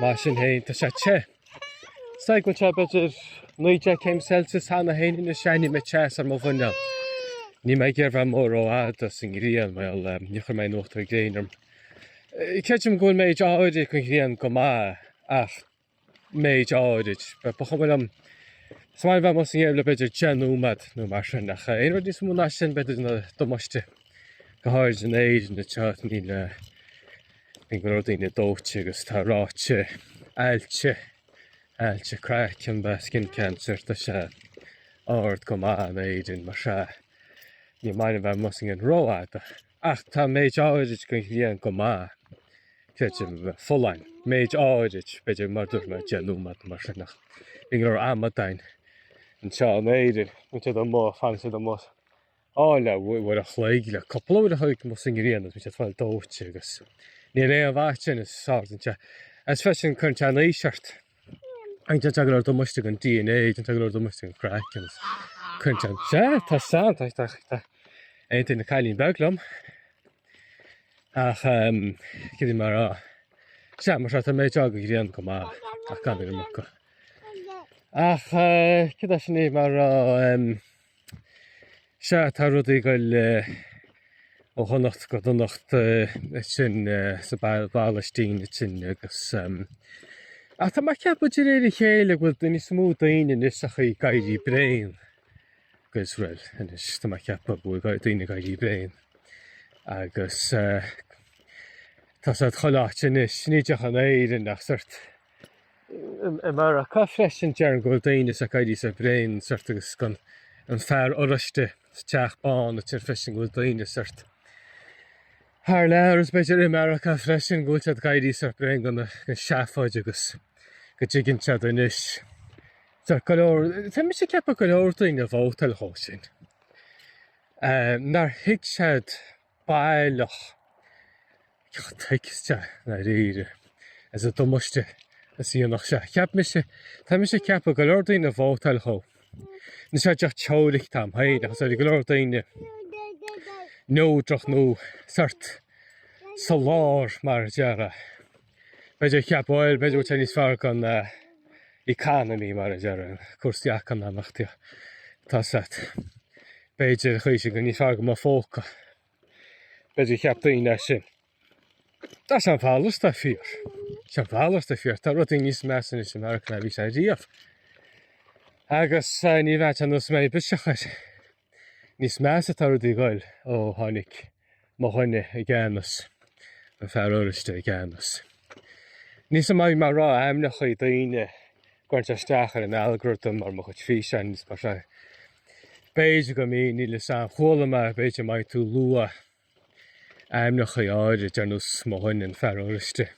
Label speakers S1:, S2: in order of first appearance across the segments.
S1: Mar sin féin tá sé te. Is dóigh go bhfuil sé b'fhéidir 19 céim Celsius cheana féin agus airím an teas ar mo mhuineál. Níl mé ag iarraidh bheith amuigh rófhada sa ngrian mar eh, níor chuir mé aon uachtar gréine orm. Eh, Creidim go bhfuil méid áirid den ghrian go maith ach méid áirid. Ba ba chuma liom is maith liom bheith amuigh sa ngréin le b'fhéidir 10 nóiméad nó mar sin ach eh, aon rud níos mó ná sin b'fhéidir déanann damáiste. Go háirid in Éirinn atá níl eh, bíonn go leor daoine dóite agus tá ráta ailse, ailse craicinn nó skin cancer tá sé ard go maith in Éirinn mar sin ní maith liom bheith amuigh sa ngrian rófhada ach tá méid áirid den ghrian go maith creidim folláin, méid áirid b'fhéidir mar dúirt mé deich nóiméad mar sin ach bíonn go leor amadáin anseo in Éirinn, bíonn siad amuigh, fanann siad amuigh. Áil a uair a' chloig le cupla uair a' chloig amuigh sa ngrian agus bíonn siad ag fáil dóite agus ní raibh aon mhaith sin is ard an teach. Is freisin cuireann sé an aois ort agus déanann sé go leor damáiste don DNA, déanann sé go leor damáiste don chraiceann agus cuireann sé an. Sea, tá a fhios agam, tá, tá, tá aontaíonn an cailín beag liom ach ehm cad é mar a'. Sea, mar sin tá méid áirid den ghrian go maith ach gan an iomarca. Ach eh cad é sin é mar a ehm. Sea, tá rudaí ag dul ó dhonacht go donacht ansin sa bPalaistín ansin agus, ach tá mé ag ceapadh de réir a chéile go bhfuil níos mó daoine anois ach ag éirí bréan de Iosrael anois, tá mé ag ceapadh go bhfuil daoine ag éirí bréan agus tá siad chomh lách anois, ní díreach in Éirinn ach sórt I Meiriceá freisin, déarfainn go bhfuil daoine anois ag éirí sách bréan sórt agus den fhear oráiste sa Teach Bán ag tuar freisin go bhfuil daoine sórt thar lear agus b'fhéidir i Meiriceá freisin go bhfuil siad ag éirí sách bréan den tseafóid agus go dtuigeann siad anois Tá go leor, tá mise ag ceapadh go leor daoine a vótáil dhó sin. Eh, nár thuig siad baileach tuigste i ndáiríre an damáiste a dhéanfadh sé. Cheap mise, tá mise ag ceapadh go leor daoine a vótáil dhó. Níl sé díreach teoiric atá agam féin ach is ar go leor daoine neodrach nó sórt sa lár mar a déarfá. B'fhéidir cheap, bhuel, b'fhéidir go bhfuil sé níos fearr don economy mar a déarfá, cúrsaí eacnamaíochta tá a fhios agat. B'fhéidir chuige sin go níos fearr do mo phóca. B'fhéidir cheap daoine é sin. Tá sé a mhalairt atá fíor. Sé a mhalairt atá fíor. Tá rudaí níos measa anois i Meiriceá ná bhí sé riamh. Agus eh, ní bheadh sé nós mé biseach air. Níos measa atá rudaí ag goil ó tháinig mo dhuine i gceannas, an fear oráiste i gceannas. Níl 'fhios a'm an mbeidh mé ag rá ainmneacha daoine ag cur isteach ar an algorithm ar mo chuid físeáin agus mar sin. B'fhéidir go mbíonn, níl 'fhios a'm, chuala mé b'fhéidir má bhíonn tú ag lua ainmneacha áirid ar nós mo dhuine, an fear oráiste,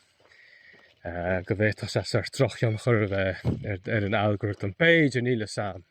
S1: go bhféadfadh sé sórt drochthionchar a bheith ar an algorithm. B'fhéidir, níl 'fhios a'm.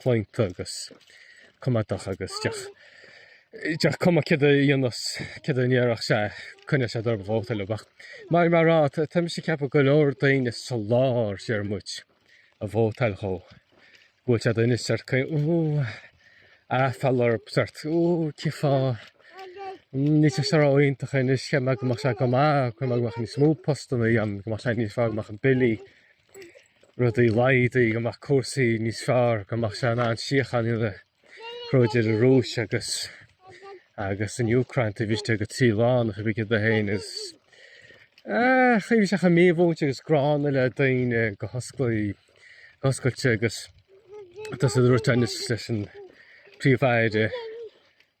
S1: chlaonta agus coimeádach agus d'fhéach d'fhéach cuma céard a dhéanfas céard a déarfadh sé coinneodh sé dár vóta le bheadh mar mar rá tá mise ag ceapadh go leor daoine sa lár déarfaidh muid a vótáil dhó bhfuil sé duine sórt cineál ooh aiféala orthub sórt ooh cén fáth níl sé sórt iontach anois cheap muid go mbeadh sé go maith cheap muid go mbeadh níos mó postanna ann go mbeadh sé níos fearr go mbeadh na billí rudaí laghdaithe, go mbeadh cúrsaí níos fearr, go mbeadh sé in ann síocháin a chruthú idir an Rúis agus agus an Úcráin taobh istigh go trí lá nó pé bith céard é féin is an chaoi a bhfuil sé chomh mímhúinte agus gránna le daoine go hosclaí, go hoscailte agus tá 'fhios a'd an rud teannais leis an bPríomh-Aire.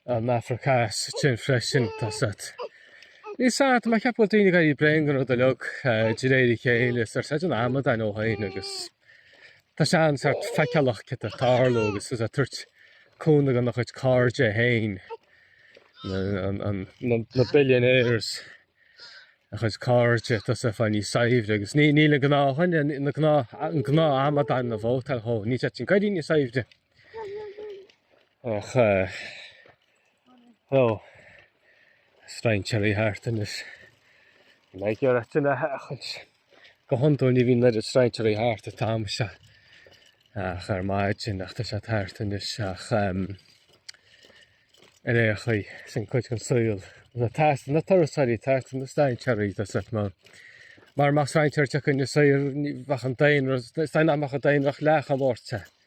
S1: Na hAfraice Theas sin freisin? Tá 'fhios a'd. Níl 'fhios a'd, mé ag ceapadh go bhfuil daoine ag éirí bréan go raibh do leog de réir a chéile is ar said an amadán de dhuine agus tá sé an-sórt feiceálach céard atá ag tarlú agus tá sé ag tabhairt cúnamh dhona chuid cairde féin, na billionaires, a chuid cairde tá siad ag fáil níos saibhre agus níl an gnáthdhuine, an gnáthamadán a vótáil dhó, níl sé sin ag éirí níos saibhre. Ach tá strainséirí thart anois. An mbeidh ar ait ina theachint? Go hiondúil ní bhíonn go leor strainséirí thart an t-am seo. Ach ar maidin ach tá siad thart anois ach ar aon chaoi sin cuid den saol. tá 'fhios a'd tá na turasóirí thart na strainséirí tá 'fhios a'd má. Mar más strainséir teacht chun na saor bheadh an daonra stainach an daonra leath an bhórte.